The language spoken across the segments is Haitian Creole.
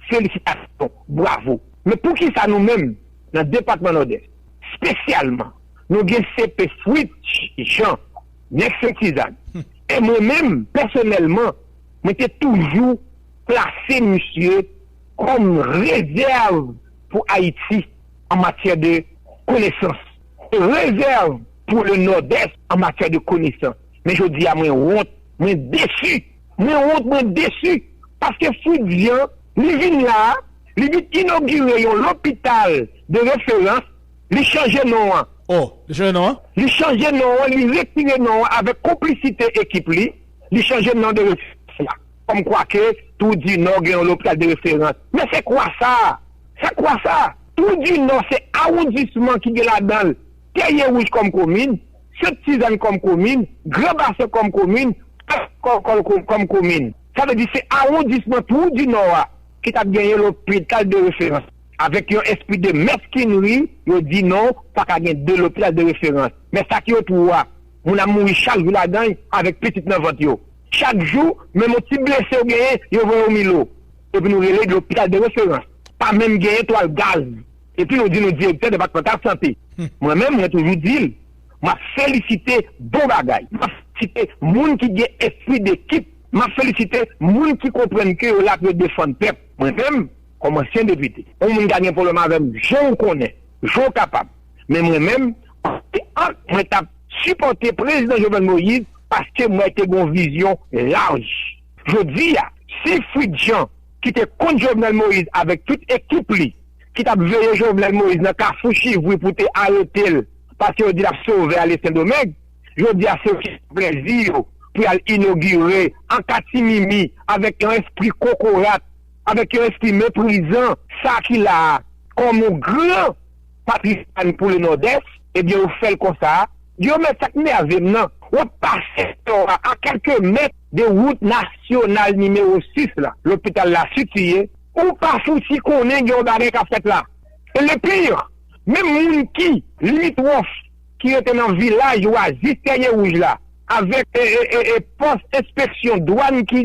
Felisitasyon, bwavo. Men poukisa nou menm nan depatman Nòdès, spesyalman nou gen CP Fritz Jean, nèg Sentizann, e mwen menm pèsonèlman mwen te toujou klase misye kòm rezèv pou Ayiti an matyè de konesans, rezèv pou le Nòdès an matyè de konesans. Men jodi a mwen wont, mwen desu. Mwen wont mwen desu paske Fritz Jean li vin la a li vin inogire yon lopital de referans li chanje non an. Oh li chanje non an? Li chanje non an li retire non an avèk konplisite ekip li li chanje non de referans la kòm kwa ke Trou du Nord gen yon lopital de referans men se kwa sa a se kwa sa a Trou du Nord se awondisman ki gen ladanl Tèyewouj kòm komin Sent Tizann kòm komin, Gran Basen kòm komin, Plas Kòkòl kòm komin. Sa vle di se awondisman Twou di Nò a ki t ap genyen lopital de referans. Avèk yon espri de mèskinri, yo di non, pa ka gen de lopital de referans. Men sa ki yo twou a, moun ap mouri chak jou ladan l avèk pitit nan vant yo. Chak jou, menm yon ti blese w genyen, yo voye w Milo. Epi nou rele l lopital de referans. Pa menm genyen twal gaz. Epi nou di nou direktè depatmantal sante. Mwen menm mwen toujou di l, m ap felisite bon bagay. M ap felisite moun ki gen espri dekip. M ap felisite moun ki konprann ke yo la pou yo defann pèp. Mwen menm, kòm ansyen depite. Yon moun ka gen pwoblèm avè m jan ou konnen, jan ou kapab. Men mwen menm, antre ank mwen t ap sipòte Prezidan Jovenel Moïse paske m wè te gen yon vizyon laj. Jodi a, si Fritz Jean ki te kont Jovenel Moïse avèk tout ekip li ki t ap veye Jovenel Moïse nan kafou chivri pou te arete l paske yo di l ap sove ale Sendomeng, jodi a se yo ki pran plezi yo pou y al inogire an katimimi avèk yon espri kokorat, avèk yon espri meprizan sa ki la a kòm yon gran. Patrisann pou le Nòdès, ebyen ou fèl konsa a, Diomède sak nèvem nan, wap pase Tò a a kèlke mèt de wout nasyonal nimewo 6 la, lopital la sitiye, ou pa fouti konnen gen yon bagay kap fèt la, e le pire menm moun ki limitwòf ki rete nan vilaj ou a jis tèye wouj la avèk pòs enspeksyon dwàn ki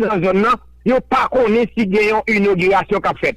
nan zòn nan yo pa konnen si gen yon inogirasyon kap fèt.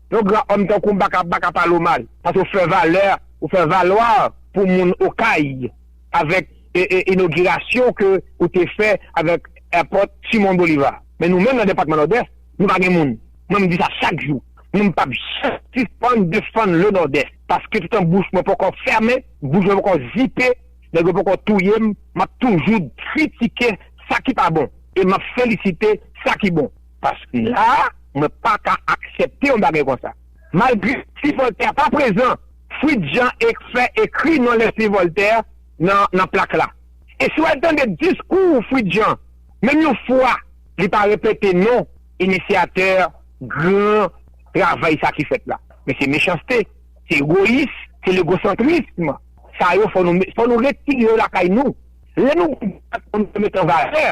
Yon gran homme tankou Baka Baka pale w mal paske w fè valè ou fè valoir pou moun okay avèk inogirasyon ke ou te fè avèk airport Simon Bolivar men nou menm nan depatman nòdès nou pa gen moun mwen m di sa chak jou mwen m pap janm sispann defann le nòdès paske toutan bouch mwen poko fèmen bouch mwen poko zipe nèg yo poko touye m map toujou kritike sa ki pa bon e map felisite sa ki bon. Paske la a, mwen pa ka aksepte yon bagay konsa. Malgre si Voltaire pa prezan, Fritz Jean fè ekri non Leslie Voltaire nan plak la. E si w al tande diskou Fritz Jean, menm yon fwa li pa repete non inisyatè gran travay sa ki fèt la. Men se mechanste, se egoyis, se legosantrism. Sa yo fò nou retire yo lakay nou. Lè nou gen dwa sa nou dwe met an valè.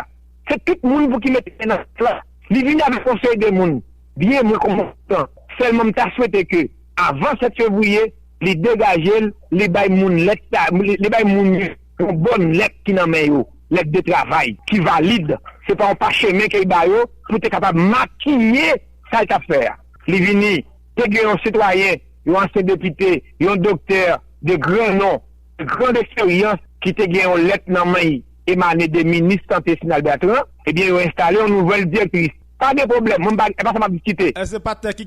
Se tout moun pou ki mete men nan pot la. Li vini avèk konsèy de moun. Byen mwen kontan. Sèlman m ta swete ke avan 7 fevriye li degaje l, li bay moun lèt sa, li bay moun yo yon bòn lèt ki nan men yo, lèt de travay ki valid. Se pa yon pachemen ke li ba yo pou te kapab makiye sa l t ap fè a. Li vini, te gen yon sitwayen, yon ansyen depite, yon doktè de gran non, de grand eksperyans ki te gen yon lèt nan men l. emane de minis sante Sinal Bertrand, ebyen yo enstale yon nouvèl direktris. Pa gen pwoblèm, mwen pa gen sa m ap diskite. Èske patnè ki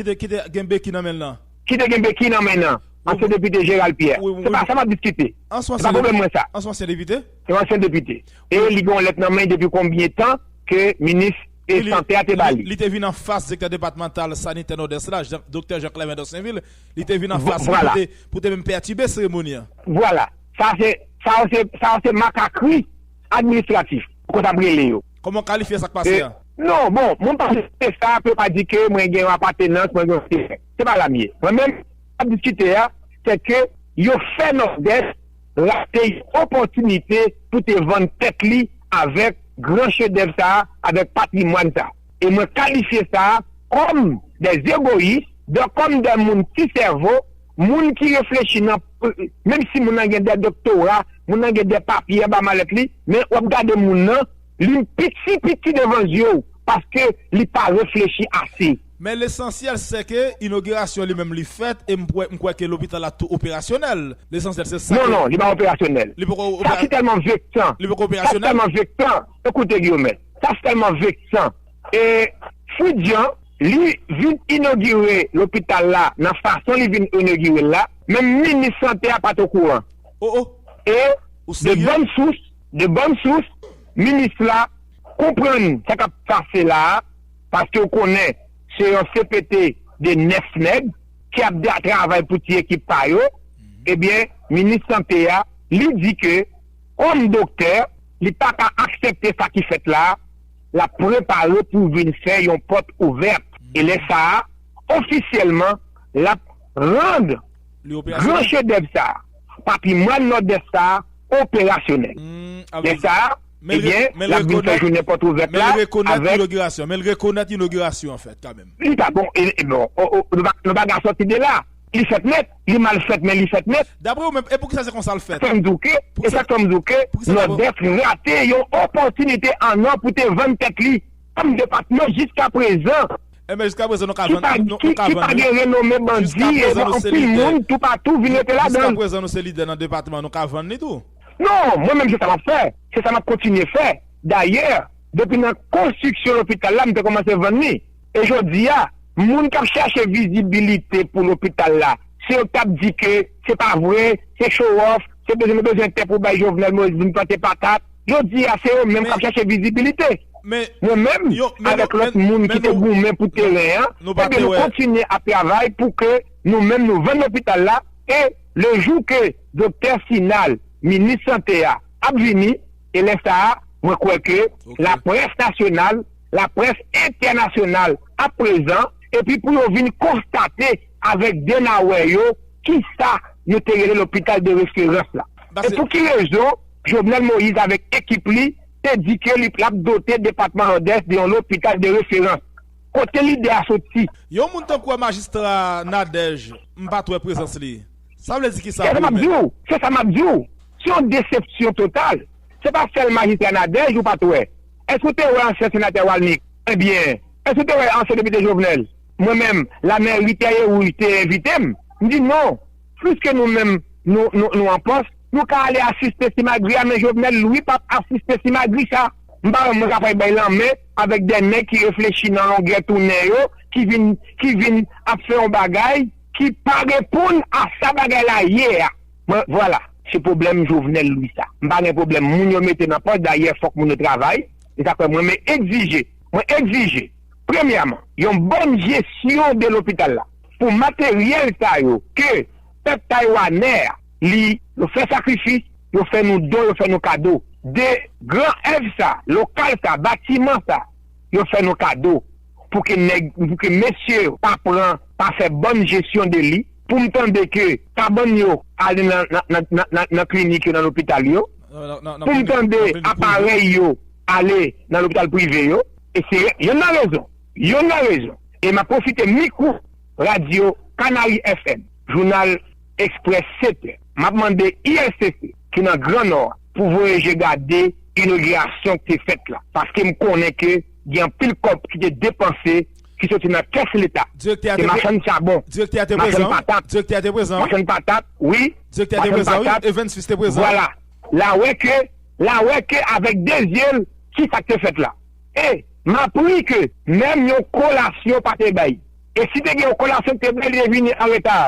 te gen beki nan men l nan? Ki te gen beki nan men l nan? Ansyen depite Gérald Pierre. Se pa sa m ap diskite. Se pa pwoblèm mwen sa. An son ansyen depite? Se yon ansyen depite. E li gen yon lèt nan men l depi konbyen tan ke minis sante a te ba li. Li te vin anfas direktè depatmantal sanitè Nòdès la, doktè Jean Clement Dorsainville. Li te vin anfas li pou te menm pètibe seremoni an. Vwala. Sa se, sa yo se, sa yo se makakri administratif ou t ap rele yo. Kòman w kalifye sa k pase a? Non, bon, mwen pa diskite sa pou yo pa di ke mwen gen yon apatenans, mwen gen yon enterè. Se pa la m ye. Mwen menm, sa m ap diskite a, se ke yo fè Nòdès rate yon opòtinite pou te vann tèt li avèk gran chedèv sa a, avèk patrimwàn sa a. E mwen kalifye sa kòm dè egoyis, dò kòm dè moun ti sèvo, moun ki reflechi nan menm si moun nan gen dè doktora, moun nan gen dè papye anba malèt li, men wap gade moun nan, li piti piti devan zye w, paske li pa reflechi ase. Men lesansyèl sè ke inogirasyon li menm li fèt e m m kwè ke lopital la tou operasyonèl. Lesansyèl se sa ke. Non, non, li pa operasyonèl. Li poko opera. Sa ki tèlman veksan. Li poko operasyonèl. Sa ki tèlman veksan, ekoute Guillaumet. Sa se tèlman veksan. E Fou Jan li vin inogire lopital la nan fason li vin inogire l la, menm minis sante a pa t okouran. Oh oh! E Ou de serye? bòn sous, de bòn sous, minis la konprann sa k ap pase la a, paske ou konnen se yon CPT de 9 nèg ki ap travay pou ti ekip pa yo, ebyen minis sante a li di ke. Kòm doktè, li pa ka aksepte sa ki fèt la, l ap prepare pou vin fè yon pòt ouvèt e lè sa a, ofisyèlman, l ap rann gran chedèv sa a, patrimwàn Nòdès sa a, operasyonèl. Lè sa a, ebyen, l ap vin fè jounen pòt ouvèt la avèk. Men l rekonèt inogirasyon an fèt kanmenm. Li pa bon, e bon, nou pa ka sòti de la. Li fèt nèt, li mal fèt men li fèt nèt. Daprè ou menm, e poukisa se konsa l fèt? E sa k fè m di w ke Nòdès rate yon opòtinite an or pou te vann tèt li kòm depatman jiska prezan ki pa gen renome bandi e gen anpil moun toupatou vin rete ladan l. Jiska prezan nou se lidè nan depatman an, nou ka vann li tou. Non, mwen menm se sa m ap fè, se sa m ap kontinye fè. Dayè, depi nan konstriksyon lopital la m te kòmanse vann li. E jodi a, moun k ap chache vizibilite pou lopital la, se yo k ap di ke se pa vre, se chowòf, se bezwen nou bezwen tè pou bay Jovenel Moïse vin plante patat. Jodi a, se yo menm k ap chache vizibilite. Mwen menm, avèk lòt moun ki te goumen pou teren an, ebyen nou kontinye ap travay pou ke nou menm nou vann lopital la e le jou ke Doktè Sinal, minis sante a, ap vini, e lè sa a, mwen kwè ke laprès nasyonal laprès entènasyonal ap prezan epi pou yo vin konstate avèk de nawè yo kisa nou te rele lopital de referans la e pou ki rezon Jovenel Moïse avèk ekip li te di ke li ap dote depatman Nòdès de yon lopital de referans. Kote lide a soti? Yon moun tankou a majistra Nadège m pat wè prezans li. Sa vle di kisa pou ou menm? Se sa m ap di w. Se yon desepsyon total. Se pa sèl majistra Nadège ou pat wè. Èske ou te wè ansyen senatè Walmik? Ebyen, èske ou te wè ansyen depite Jovenel? Mwen menm, Lamèri Tèye Wouj te envite m. M di non, piske nou menm nou nou an pòs, nou ka ale asiste simagri a men Jovenel Louis p ap asiste simagri sa. M pa wè mwen ka fè bay lanmen avèk de nèg ki reflechi nan longè tounen yo, ki vin ki vin ap fè yon bagay ki pa reponn a sa bagay la ye a. Mwen vwala se pwoblèm Jovenel Louis sa. M pa gen pwoblèm moun yo mete nan pòs dayè fòk moun yo travay se sa k fè mwen me egzije mwen egzije premyèman yon bòn jesyon de lopital la pou materyèl sa yo ke pèp taywanè a li yo fè sakrifis yo fè nou don yo fè nou kado de gran èv sa lokal sa batiman sa yo fè nou kado pou ke nèg pou ke mesye yo pa pran pa fè bòn jesyon de li. poum tande ke pa bann yo ale nan klinik yo nan lopital yo poum tande aparèy yo ale nan lopital prive yo e se yonn nan rezon yonn nan rezon e map pwofite mikwo radyo kanari FM jounal express 7 è map mande ISTC ki nan gran nò a pou voye je gade inogirasyon ki te fèt la paskem konnen ke gen anpil kòb ki te depanse ki soti nan kès leta. Direktè a te prezan wi. Se machann chabon. Direktè a te prezan wi. Machann patat. Direktè a te prezan wi. Machann patat wi. Direktè a te prezan wi. Evens Fils te prezan wi. Vwala. La wè ke, la wè ke avèk de zye l ki sa k te fèt la. E, m ap ri ke menm yon kolasyon pa te bay. E si te gen yon kolasyon ki te bay li te vini an reta.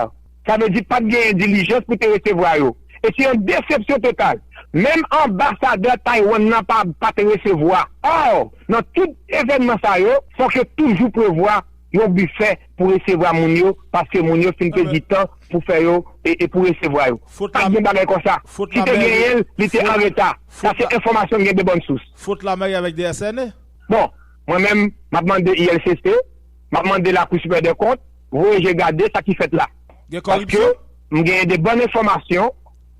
Sa vle di pat genyen dilijans pou te resevwa yo. E se yon desepsyon total. Menm anbasadè Taiwan nan pa pat resevwa. Or, nan tout evènman sa yo, fòk yo toujou prevwa yon bifè pou resevwa moun yo paske moun yo fin pèdi tan pou fè yo e pou resevwa yo. Pat gen bagay konsa. Si te genyen l, li te an reta. Sa se enfòmasyon m gen de bòn sous. Faute la mairie avec DSNE? Bon, mwen menm, m ap mande ILCC, m ap mande Lakou Sipèryè dè Kont, Voye je gade sa ki fèt la. Gen kòripsyon? Paske m genyen de bòn enfòmasyon,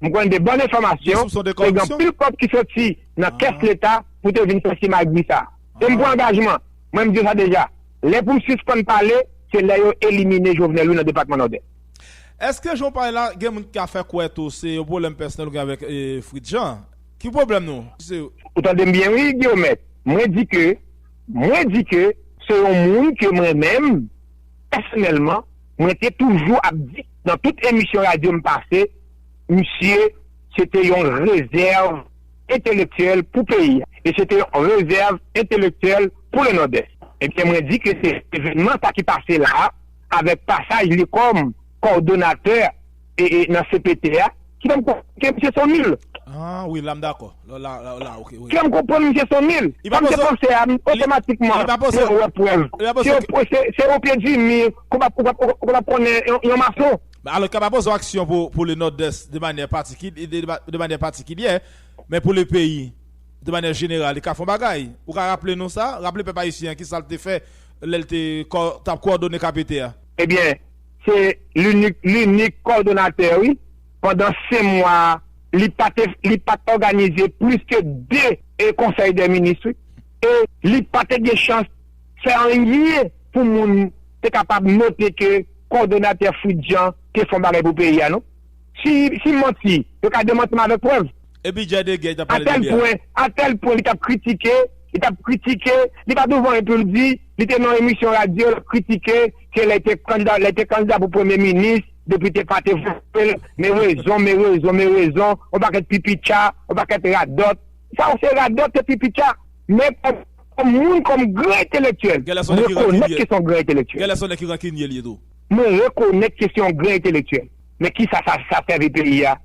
m konnen de bòn enfòmasyon, Gen soupson de kòripsyon? se gen anpil kòb ki soti nan kès leta pou te vin fè simagri sa. E m pran angajman, mwen m di yo sa deja, lè pou m sispann pale, se lè yo elimine Jovenel wi nan depatman Nòdès. Eske jan w pale la, gen moun ki ka fè kwè tou se yon pwoblèm pèsonèl ou gen avèk Fritz Jean? Ki pwoblèm nou? Se. Ou tande m byen wi Guiomette, mwen di ke, mwen di ke se yon moun ke mwen menm, Pèsonèlman, mwen te toujou ap di nan tout emisyon radyo m pase, misye se te yon rezèv entelektyèl pou peyi a e se te yon rezèv entelektyèl pou le Nòdès. Ebyen, mwen di ke se evènman sa ki pase la a, avèk pasaj li kòm kòdonatè, nan cpt a ki fèm konprann ke misye son nul. Ahh wi la m dakò. Lè w la ok wi. Ki fèm konprann misye son nul. Sa misye panse a otomatikman mwen wè prèv. Se o pye di mi ke w pap konnen yon mason. Alò ke pa poze w aksyon pou le Nòdès de manyè patikilyè men pou le peyi de manyè jeneral li ka fè yon bagay. Ou ka raple nou sa? Raple pèp ayisyen an kisa l te fè lè l te tap kowòdone kpt a. Ebyen Se linik linik kòdonatè wi. Pandan 5 mwa a li pa te li pa t òganize plis ke 2 e konsèy dè minis wi. E li pa te gen chans fè anyen pou moun te kapab note ke kòdonatè Fritz Jean te fè yon bagay pou peyi a non. Si si manti yo ka demanti m avèk prèv. Epi djay de gèy tap pale de li a. A tèl pwen li tap kritike, li tap kritike, li pa douvan e poul di, li te nan yon emisyon radyo lap kritike ke lè li te kandida, lè li te kandida pou premye minis, depite pate votel, me rezon, me rezon, me rezon, yon pakèt pipitcha, yon pakèt radòt. Sa yo se radòt, se pipitcha. Men kòm moun, kòm gran entelektyèl, mwen rekonèt ke se yon gran entelektyèl. Genlè se yon nèg ki rankinye li ye tou. Mwen rekonèt ke se yon gran entelektyèl. Men kisa sa sèvi peyi a?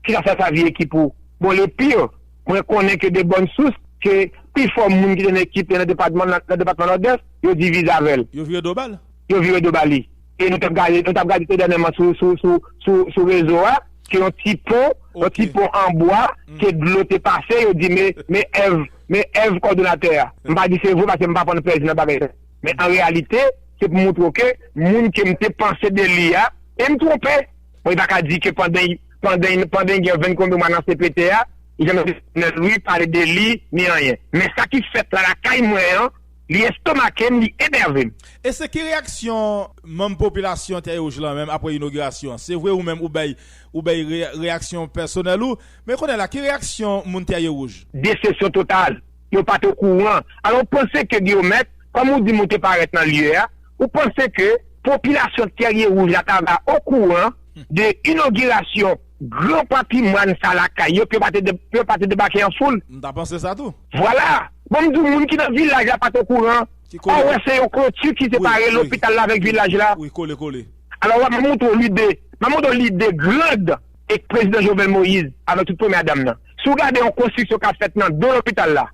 Kisa sa sa di ekip ou? Bon le pire, mwen konnen ke de bòn sous ke pi fò moun ki te nan ekip lan nan depatman nan depatman Nòdès, yo divize avè l. Yo vire do ba l? Yo vire do ba li. E nou t ap gade, nou t ap gade dènyèman sou sou sou sou sou rezo a, ke yon ti pon, yon ti pon an bwa ke dlo te pase, yo di me me èv me èv kòdonatè a. M pa di se vre paske m pa pran plèzi nan bagay sa. Men an reyalite, se pou montre w ke moun ke m te panse de li a, e m twonpe! Mwen ta ka di ke pandan pandan gen venn konbyen mwa nan CPT a, li janm tande Jovenel Louis pale de li ni anyen. Men sa ki fèt la lakay mwen an, li estomake m, li enève m. E se ki reyaksyon manm popilasyon Tè Wouj lan menm apre inogirasyon an? Se vre ou menm ou bay ou bay reyaksyon pèsonèl ou, men kounye la ki reyaksyon moun Tè Wouj? Desepsyon total. Yo pa t okouran. Alò ou panse ke Guillaumette, kòm ou di m ou te parèt nan lye a, ou panse ke popilasyon Tèrye-Wouj la ta va okouran de inogirasyon gran patrimwàn sa lakay yo ke yo pa te debake an foul? M ta panse sa tou. Vwala! Bon m di w moun ki nan vilaj la pa t okouran. Ò wè se yon kloti ki separe lopital la avèk vilaj la. Alò wè m ap montre w lide, m ap montre w lide grand. e prezidan Jovenel Moïse avèk tout premya dam nan. Si w gade yon konstriksyon k ap fèt nan do lopital la,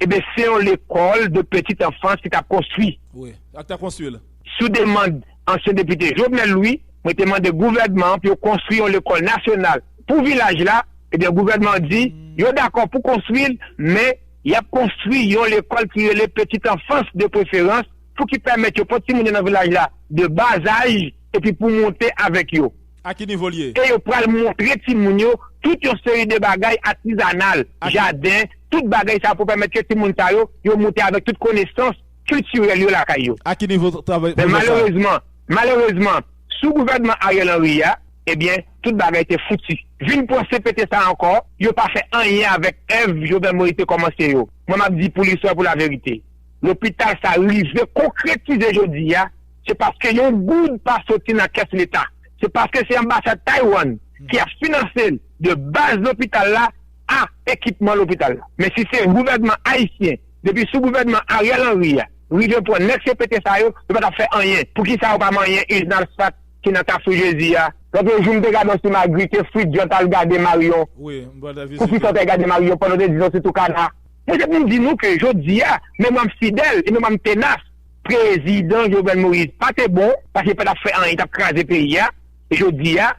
eben se yon lekòl de petit enfance ki t ap konstwi. Wi, ak ta konstwi l. Sou demand ansyen depite Jovenel Louis, mwen te mande gouvènman an pou yo konstwi yon lekòl nasyonal pou vilaj la, eben gouvènman an di yo dakò pou konstwi l, men y ap konstwi yon lekòl ki rele petit enfance de preferans pou ki pèmèt yo pran timoun yo nan vilaj la de bas âge epi pou monte avèk yo. A ki nivo l ye? E yo pral montre timoun yo tout yon seri de bagay atizanal, jaden, tout bagay sa yo pou pèmèt ke timoun sa yo, yo moute avèk tout konesans kiltirèl yo lakay yo. A ki nivo travay Men pwojè sa a? malerezman, malerezman, sou gouvènman Ariel Henry a, ebyen, tout bagay te fouti. Vin pran CPT sa ankò, yo pa fè anyen avèk èv Jovenel Moïse te kòmanse yo. Mwen m ap di pou listwa e pou laverite, lopital sa rive konkretize jodi a, se paske yon goud pa soti nan kès leta, se paske se anbasad Taiwan ki ap finanse l de baz lopital la a ekipman lopital la. Men si se gouvènman ayisyen depi sou gouvènman Ariel Henry a rive pran nèg CPT sa yo, yo pa t ap fè anyen. Poukisa yo pa manyen izn alsat ki nan kafou jezi a? Lòt yo jou m te gade yon ti magri ke fridjan t al gade marion pou kisa w t al gade marion pandan w te di nou se tou kana. Mwen te pou m di nou ke jodi a memwa m fidèl e memwa m tenas. Prezidan Jovenel Moïse pa te bon paske li pa tap fè anyen li tap kraze peyi a jodi a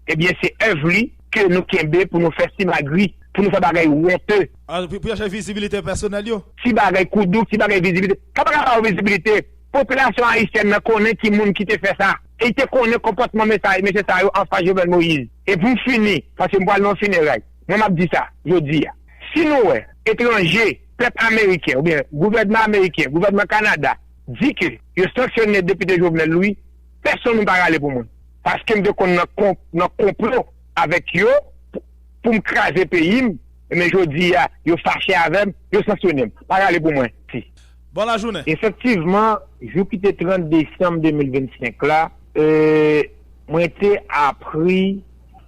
ebyen se èv li ke nou kenbe pou nou fè simagri pou nou fè bagay wonte. Pou chache vizibilite pèsonèl yo. Ti bagay koudou ti bagay vizibilite sa paka baw vizibilite popilasyon ayisyèn nan konnen ki moun ki te fè sa e li te konnen konpòtman mesye sa yo anfas Jovenel Moïse e pou m fini paske m pwal nan yon fineray mwen map di sa jodi a si nou wè etranje Pèp ameriken oubyen gouvènman ameriken, gouvènman Kanada di ke yo sanksyone depite Jovenel Louis, pèsonn moun pa rale pou mwen. Paske m te konn nan konplo avèk yo pou m kraze peyi m, men jodi a yo fache avè m, yo sanksyone m. Pa rale pou mwen. Ti. Bon lajounen. Efektivman, jou ki te 30 desanm 2025 la, mwen te apri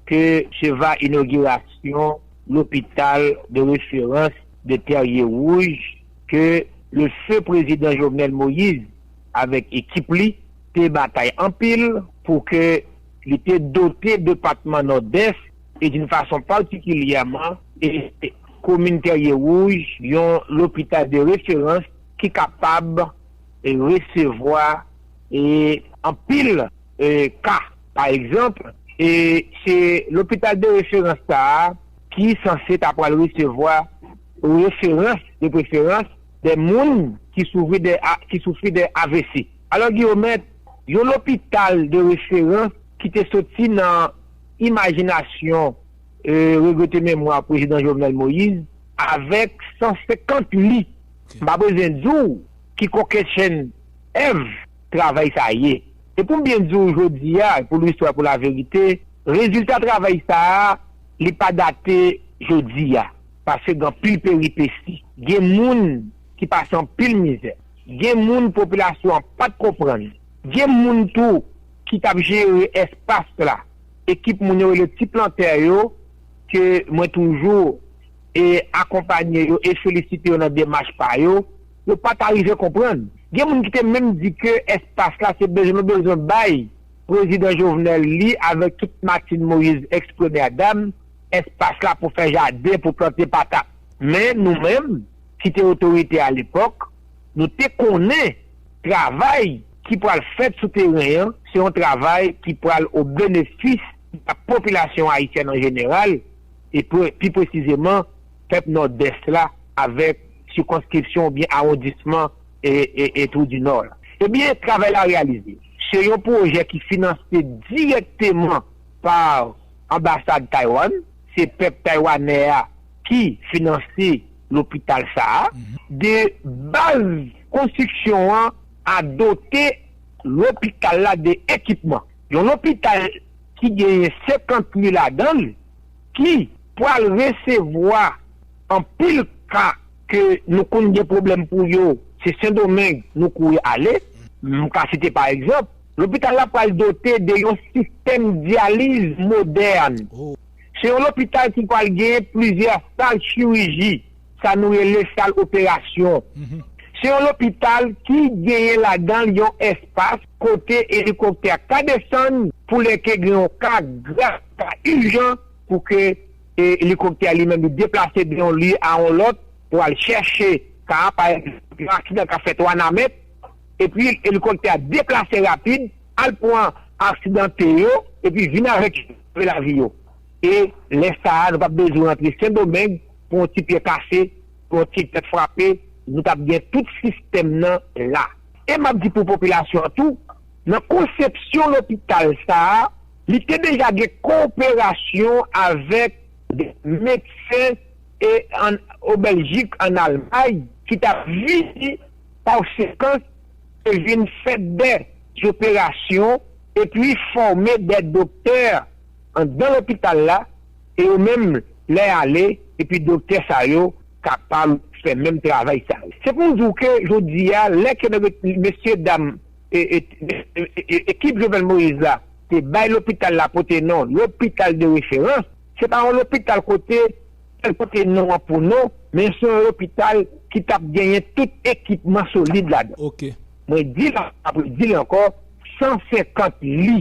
ke se va inogirasyon Lopital de referans de Terye Wouj ke le feu prezidan Jovenel Moïse avèk ekip li te batay anpil pou ke li te dote depatman Nòdès e d'une façon particulièrement e komin Terye Wouj yon lopital de referans ki kapab resevwa e anpil ka. Pa egzanp, se lopital de referans sa a ki sanse ta pral resevwa referans, de preferans, de moun ki soufri de avc. Alò Guillaumet, yon lopital de referans ki te soti nan imajinasyon regrete memwa Prezidan Jovenel Moïse avèk 150 li, m pa bezwen di w ki kokennchenn èv, travay sa ye. E pou m byen di w jodi a, pou lwistwa e pou laverite, rezilta travay sa a, li pa date jodi a. Paske gen anpil peripesi. Gen moun ki pase anpil mizè. Gen moun popilasyon an pa t konprann. Gen moun tou ki t ap jere espas la, ekip moun yo rele ti plantè yo, ke mwen toujou e akonpanye yo e felisite yo nan demach pa yo. Yo pa ta rive konprann. Gen moun ki te menm di ke espas la se bezwen nou bezwen bay Prezidan Jovenel li avèk tout Martine Moïse, ex premyè dam, espas la pou fè jaden, pou plante patat. Men nou menm ki te otorite a lepòk, nou te konnen travay ki pral fèt sou teren an, se yon travay ki pral o benefis a popilasyon ayisyèn an jeneral e pi presizeman Pèp Nòdès la avèk sikonskripsyon oubyen awondisman e Twou di Nò la. Ebyen, travay la reyalize. Se yon pwojè ki finanse dirèkteman pa Anbasad Taywann. Se pèp Taywanè a ki finanse lopital sa a. De baz konstriksyon an a dote lopital la de ekipman. Yon lopital ki genyen 50 li ladan l. ki pral resevwa anpil ka ke nou konn gen pwoblèm pou yo, se Sendomeng nou kouri ale. M ka site pa egzanp, lopital la pral dote de yon sistèm dyaliz modèn. Se yon lopital ki pral genyen plizyè sal chiriji, sa nou rele sal operasyon. Se yon lopital ki genyen ladan l yon espas kote elikoptè ka desann pou lè ke gen yon ka grav. sa ijan pou ke elikoptè a li menm li deplase de yon lye a yon lòt pou al chèche ka a, pa egzanp yon aksidan ka fèt Wanament epi elikoptè a deplase rapid al pran aksidante yo epi vin avèk yo pou sove lavi yo e lè sa a nou pa p bezwen antre Sendomeng pou yon ti pyè kase, pou yon ti tèt frape nou t ap gen tout sistèm nan la e m ap di pou popilasyon an tou nan konsepsyon lopital sa a Li te deja gen koperasyon avèk de medsen e an o Bèljik an Almay ki tap vini konsekans te vin fè de zoperasyon epi fòme de doktè andan lopital la e yo menm lè ale epi doktè sa yo kapab fè menm travay sa yo. Se pou di w ke jodi a lè ke mesye dam Ekip Jovenel Moïse la te bay lopital la pote non Lopital de Referans. Se pa yon lopital kote sèl pote non an pou non, men se yon lopital ki t ap genyen tout ekipman solid ladan. Mwen di l avan, m ap redi l ankò, 150 li.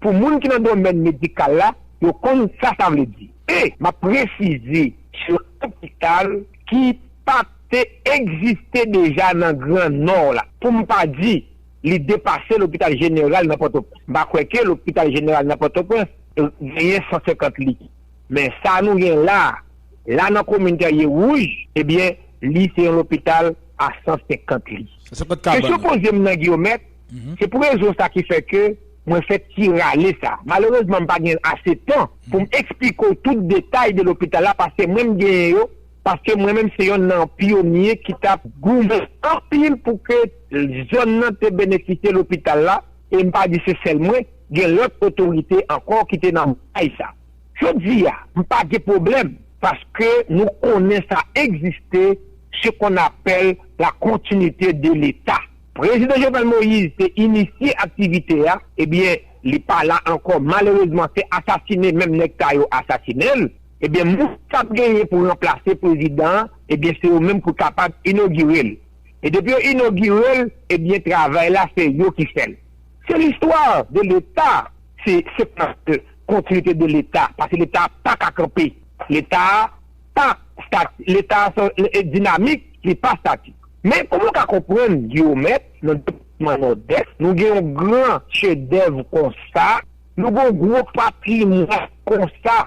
Pou moun ki nan domèn medikal la, yo konn sa sa vle di. E, m ap presize, se yon lopital. ki pa te egziste deja nan gran Nò la, pou m pa di li depase lopital jeneral nan Pòtoprens. M pa kwè ke lopital jeneral nan Pòtoprens genyen 150 lit. Men sa nou gen la, la nan komin Tèrye Wouj, ebyen li se yon lopital a 150 lit. Kesyon poze m nan Guillaumet, Se pou rezon sa ki fè ke mwen fè ti rale sa. Malerezman m pa gen ase tan pou m eksplike w tout detay de lopital la paske mwen m genyen yo paske mwen menm se yonn nan pyonye ki t ap goumen anpil pou ke zòn nan te benefisye lopital la e m pa di se sèl mwen, gen lòt otorite ankò ki te nan batay sa. Jodi a, m pa gen pwoblèm paske nou konnen sa egziste, se kon apèl la kontinite de Leta. Prezidan Jovenel Moïse te inisye aktivite a ebyen li pa la ankò malerezman se asasine menm nèg sa yo asasinenl ebyen moun kap genyen pou ranplase prezidan an ebyen se yo menm pou kapab inogirel e depi yo inogirel ebyen travay la se yo ki fèl se l'histoire de l'etat se se paske kontinite de leta paske leta paka kanpe leta pa stati leta son dinamik li pa statik. Men, kòman w ka konprann, Giyomèt, nan depatman Nòdès, nou gen yon gran chedèv konsa, nou gen yon gwo patrimwàn konsa,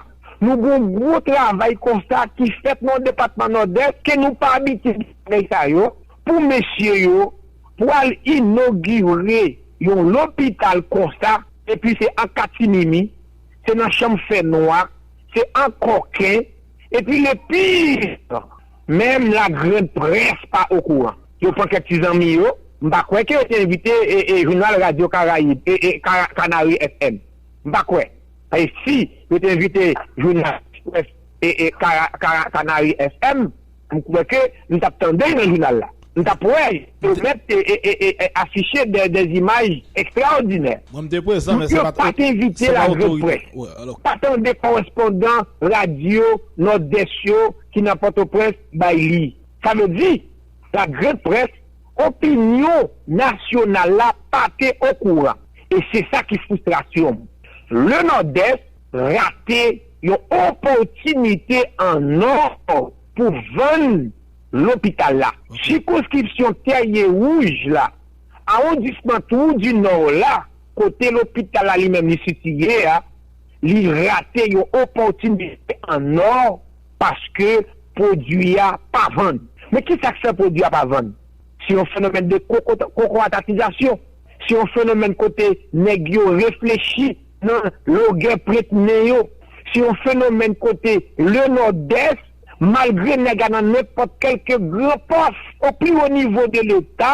nou gen yon gwo travay konsa ki fèt nan depatman Nòdès ke nou pa abitye gen bagay sa yo, pou mesye yo pwal inogire yon lopital konsa, epi se an katimimi, se nan chanm fè nwa, se an kòken, epi le pire, Menm la grande presse pa okouran. Yo pran kèk ti zanmi yo, m pa kwè ke yo te envite jounal Radyo Karayib, Canary FM. M pa kwè. Paske si yo te envite jounal Express, Canary FM, m kwè ke m t ap tande l nan jounal la. M ta pwè yo mèt afiche dè imaj ekstraòdinè. Moun yo pa t envite lagrand près, pa tande kòrespondan radyo Nòdès yo ki nan Pòtoprens bay li. Sa vle di, lagrand près, opinyon nasyonal la pa te okouran. E se sa ki fristrasyon m. Le Nòdès rate yon opòtinite an nò pou vann. Lopital la. Sikonskripsyon Tèrye Wouj la. Awondisman Twou di Nò la, kote lopital la li menm li sitiye a, li rate yon opòtinite an ò paske pwodui a pa vann. Men ki sa k fè pwodui a pa vann? Se yon fenomèn de kokoratatizasyon. Se yon fenomèn kote nèg yo reflechi nan logè prent nen yo. Se yon fenomèn kote le Nòdès. Malgre nèg a nan nenpòt kèlke gran pòs o pi wo nivo de leta,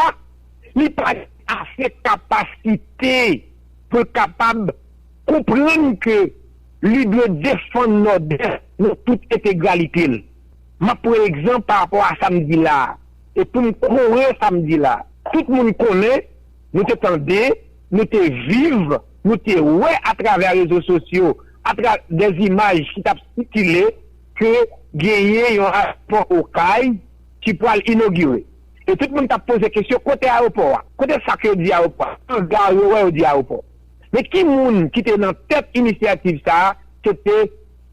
li pa gen ase kapasite pou l kapab konprann ke li dwe defann Nòdès nan tout entegralite l. M ap pran egzanp pa rapò a sa m di la a, e pou m kore sa m di la a. Tout moun konnen, nou te tande, nou te viv, nou te wè atravè rezo sosyo, atravè dè imaj ki t ap sikile, ke genyen yon ayewopò Okay ki pwal inogire. E tout moun tap poze kesyon kote ayewopò a? Kote sak yo di ayewopò a? An gar yo wè yo di ayewopò. Men ki moun ki te nan tèt inisyativ sa a, se te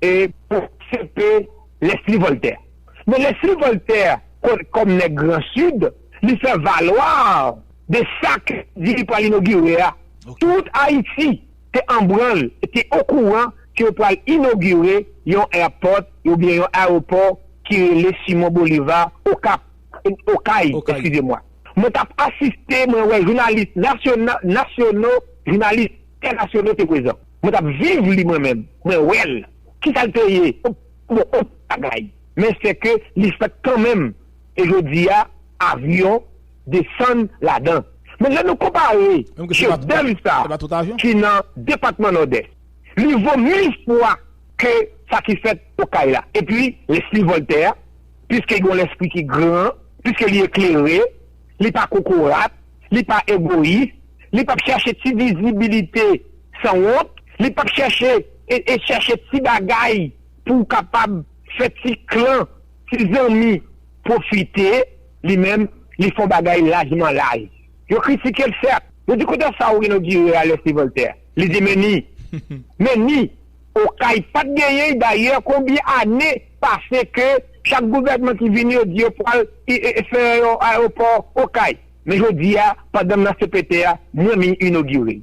e Pwofesè CP Leslie Voltaire. Men Leslie Voltaire kon kòm nèg gran Sid, li fè valoir de sak di li pwal inogire a. Tout Ayiti. te anbranl e te okouran ke yo pral inogire yon airport oubyen yon aeropò ki rele Simon Bolivar Okap, Okay, eskize mwa. Mwen t ap asiste, mwen wè jounalis nasyono, jounalis entènasyonal te prezan. Mwen t ap viv li mwen menm, mwen wè l. Kisa l te ye? Bon, anpil bagay. Men sèke li fèt kanmenm. E jodi a, avyon. desann ladan. Men lè nou konpare chefdèv sa ki nan depatman Nòdès, li vo mil fwa ke sa ki fèt Okay la. Epi lespri Vòltè a, piske gen yon lespri ki gran, piske li eklere, li pa kokorat, li pa egoyis, li pap chache ti vizibilite san wont, li pap chache e chache ti bagay pou kapab fè ti klan, ti zanmi pwofite. Li menm, li fon bagay lajman laj. Yo kritike l sèt. Yo di kote sa ou inogire a lè se Voltè? Li di men ni. Men ni. Okay pat genyen y dayè konbyen ane pase ke chak gouvènman ki vini yo di yo pwal fè yon aewopò Okay. Men jodi a pandan m nan CPT a mwen min inogire l.